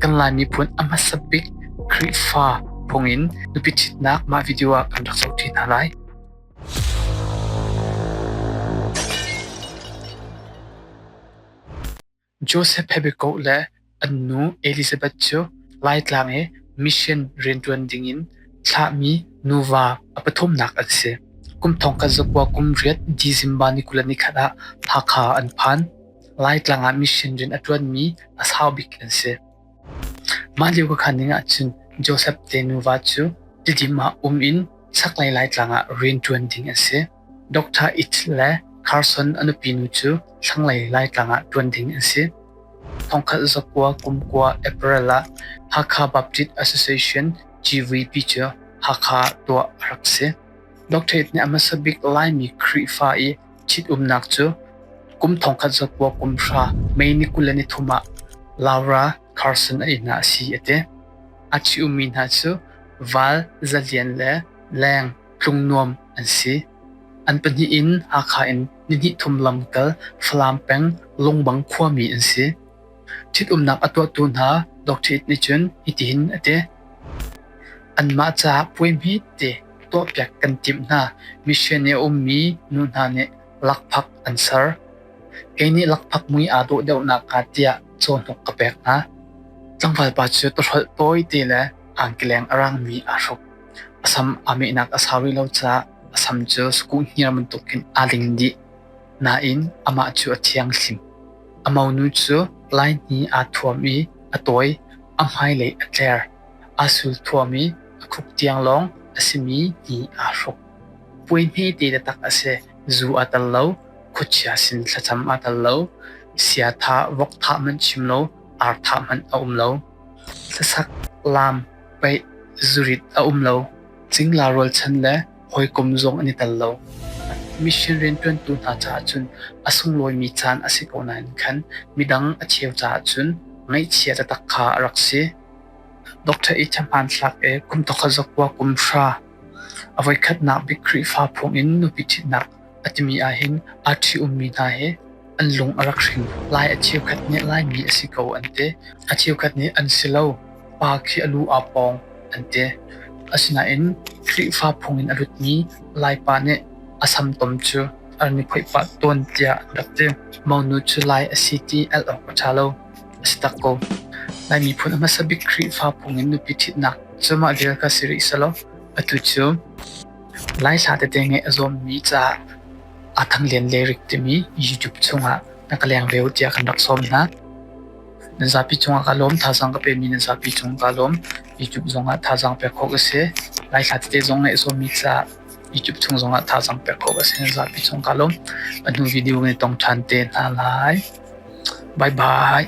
Kan Lai miphun a hmasa bik Khrihfa phung in nupi ṭhitnak mah video ah kan rak zohṭi hna lai. Joseph Pebekoh le an nu Elizabeth cu Laitlang i mission rianṭuan ding in thlahmi nuva a pathumnak an si. Kum thong khat zakua kum riat December ni kul le ni khat ah Hakha an phan. Laitlang ah mission rian a ṭuanmi a sau bik an si. Mah lio ka khanning ahcun Joseph te nuva cu tidim ah um in chaklei Laitlang ah rian ṭuan ding an si. Dr. It le Carson a nupinu cu thlanglei Laitlang ah ṭuan ding an si. Thongkhat zakua kumkua April ah Hakha Baptist Association GVP cu Hakha tuah a rak si. Dr. It nih a hmasa bik Laimi Khrihfa i Ṭhitumnak cu kum thongkhat zat buak kum hra May ni kul le ni thum ah Laura Carson a ihnak a si a ti. A ṭhitummi hna cu val, zalian le leng tlung nuam an si. An pahnih in Hakha in ni hnih thum lamkal Falam peng Lungbang khuami an si. Ṭhitumnak a tuahtu hna doctorate nih cun hitin a ti: Anmah caah puai hmete tuahpiak kan timh hna. Mission i a ummi nu hna nih lakphak an ser. Kei nih lakphak mui aa dawh deuhnak hnga tiah cawhnuk ka pek hna. Tlangvalpa cu tawhrolh tawite le aankeleng a raangmi aa hruk. A sam aa mehnak a sau rih lo caah a sam cu sakuh hniar bantukin aa ling dih. Nain amah cu a thianghlim. A monu cu laihni aa thuam i a tawi, a hmailei a tler, aa sul thuam i a khup tiang lawng a simi ni aa hruk. Puai hmete taktak a si. Zu aa tel lo. Khuachia sin thlacam aa tel lo. Siatha vok thah hmanh chim lo. Ar thah hmanh a um lo. Hlasak, lam, peih, zurit a um lo. Cingla rualchan le hawikom zong an i tel lo. Mission rianṭuantu hna caah cun a sunglawimi caan a si ko nain khan midang a cheu caah cun ngaihchia taktak kha a rak si. Dr. H. hmanthlak e kum tokhat zakua kum hra a voikhatnak bik Khrihfa phung in nupi ṭhitnak A timi ahhin aa ṭhi-ummi hna hi an lung a rak hring. Lai a cheukhat nih Laimi a si ko an ti. A cheukhat nih an si lo. Pa khi a lu aa pawng an ti. Asinain Khrihfa phung in a lutmi Laipa nih a samtom cu an i phoih pah tawn tiah an rak ti. Monu cu Lai a si ti al awk a ṭha lo. A si tak ko. Lai miphun a hmasa bik Khrihfa phung in nupi ṭhitnak cu mah vial kha si rih selaw atu cu Laihla tete ngeih a zuammi ca aa Thang Lian Leirik timi YouTube chungah na ka leng ve u tiah kan rak sawm hna. Na zapi cungah kaa lawm, thazaang ka pemi na zapi cung kaa lawm. YouTube zongah thazaang pek khawh ka si. Laihla tete zong ngeih a zuammi ca YouTube chung zongah thazaang pek khawh ka si. Na zapi cung kaa lawm. A hnu video kan i tong ṭhan te hna lai. Bye bye.